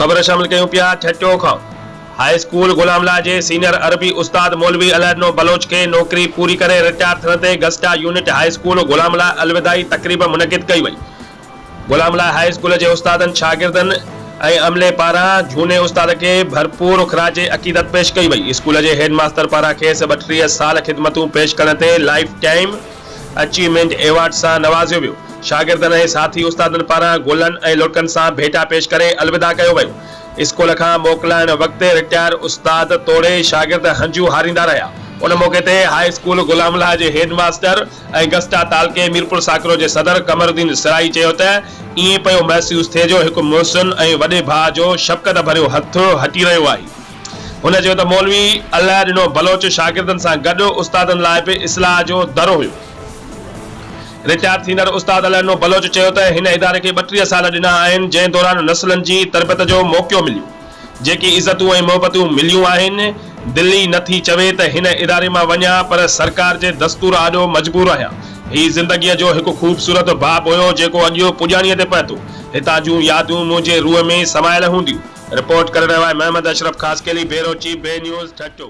خبر شامل ڪيون پيا ٺٽو کان هاء اسڪول غلام الله جي سينئر عربي استاد مولوي الهڏنو بلوچ کي نوڪري پوري ڪري رٽائر ٿيڻ تي Gusta unit high school Ghulam Allah الوداعي تقريب منعقد ڪئي وئي غلام لاء هاء اسڪول جي استادن، شاگردن ۽ عملي پاران جهوني استاد کي ڀرپور خراج عقيدت پيش ڪئي وئي. اسڪول جي هيڊ ماستر پاران کيس ٻٽيهه سال خدمتون پيش ڪرڻ تي لائيف ٽائيم اچيومينٽ ايوارڊ سان نوازيو ويو. شاگردن ۽ ساٿي استادن پاران گلن ۽ لڙڪن سان ڀيٽا پيش ڪري الوداع ڪيو ويو. اسڪول کان موڪلائڻ وقت رٽائر استاد توڙي شاگرد هنجون هاريندا رهيا. ان موقعي تي هاء اسڪول غلام لاء جي هيڊ ماستر، ۽ گسٽا تعلقي ميرپور ساڪرو جي صدر قمر الدين سرائي چيو ته ائين پيو محسوس ٿئي جو هڪ محسن ۽ وڏي ڀاء جو شفقت ڀريو هٿ هٽي رهيو آهي. هن چيو ته مولوي الله ڏنو بلوچ شاگردن سان گڏ استادن لاء به اصلاح جو در هيو. رٽائر ٿيندڙ استاد الله ڏنو بلوچ چيو ته هن اداري کي ٻٽيهه سال ڏنا آهن جنهن دوران نسلن جي تربيت جو موقعو مليو. جيڪي عزتون ۽ محبتون مليون آهن، دل ئي نه ٿي چوي ته هن اداري مان وڃان پر سرڪار جي دستور آڏو مجبور آهيان. هي زندگيء جو هڪ خوبصورت باب هيو جيڪو اڄيو پڄاڻيء تي پهتو. هتان جون يادون منهنجي روح ۾ سمايل هونديون. رپورٽ ڪري رهيو آهي Muhammad Ashraf Khaskheli, bureau chief, B news, Thatta.